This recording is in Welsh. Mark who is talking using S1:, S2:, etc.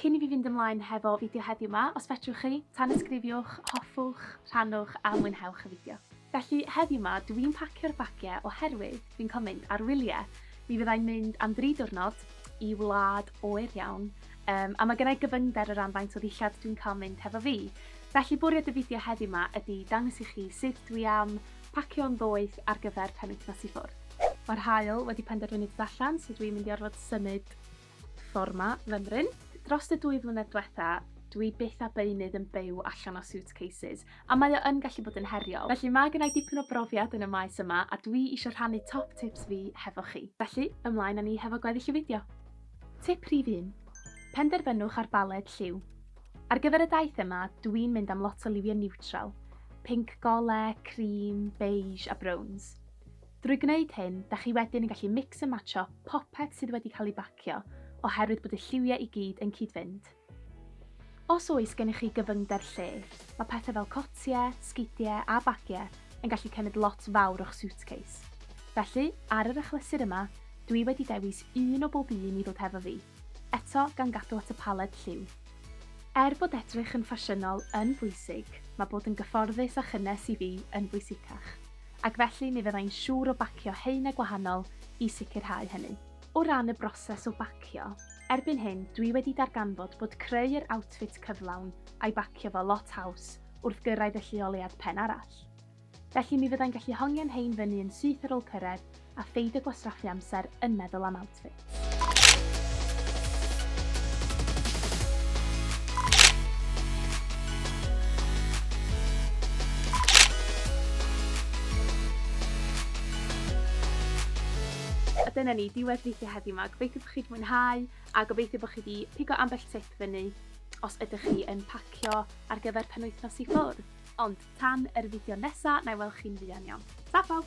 S1: Cyn i fi fynd ymlaen hefo fideo heddiw 'ma, os fedrwch chi, tanysgrifiwch, hoffwch, rhannwch a mwynhewch y fideo. Felly, heddiw 'ma dw i'n pacio'r bagiau oherwydd fi'n cael mynd ar wyliau. Mi fydda i'n mynd am dri diwrnod i wlad oer iawn, yym, a ma' gynna i gyfyngder o ran faint o ddillad dwi'n cael mynd hefo fi. Felly, bwriad y fideo heddiw 'ma ydi dangos i chi sut dwi am pacio'n ddoeth ar gyfer penwythnos i ffwrdd. Mae'r haul wedi penderfynu dod allan, so dw i'n mynd i orfod symud Forma fymryn. Drost y dwy flynedd dwetha, dwi byth a beunydd yn byw allan o suitcases, a mae o yn gallu bod yn heriol. Felly mae gennai dipyn o brofiad yn y maes yma a dwi isio rhannu top tips fi hefo chi. Felly, ymlaen â ni hefo gweddill y fideo. Tip rhif un. Penderfynwch ar baled lliw. Ar gyfer y daith yma, dwi'n mynd am lot o liwiau niwtral, pinc gole, cream, beige a browns. Drwy gwneud hyn, da chi wedyn yn gallu mix and matcho popeth sydd wedi cael ei bacio oherwydd bod y lliwiau i gyd yn cyd-fynd. Os oes gennych chi gyfyngder lle, mae pethau fel cotiau, sgidiau a bagiau yn gallu cymryd lot fawr o'ch suitcase. Felly, ar yr achlysur yma, dwi wedi dewis un o bob un i ddod hefo fi, eto gan gadw at y paled lliw. Er bod edrych yn ffasiynol yn bwysig, mae bod yn gyfforddus a chynnes i fi yn bwysicach. ac felly mi fyddai'n siŵr o bacio haenau gwahanol i sicrhau hynny. O ran y broses o bacio, erbyn hyn dwi wedi darganfod bod creu yr outfit cyflawn a'i bacio fo lot haws wrth gyrraedd y lleoliad pen arall. Felly mi fyddai'n gallu hongian hein fyny yn syth ar ol cyrraedd a pheidio gwastraffu amser yn meddwl am outfits. A dyna ni, diwedd fideo heddiw yma. Gobeithio bod chi wedi mwynhau a gobeithio bod chi wedi pigo ambell tip fyny os ydych chi yn pacio ar gyfer penwythnos i ffwrdd. Ond tan yr fideo nesa, na i weld chi'n fuan iawn. Ta pawb!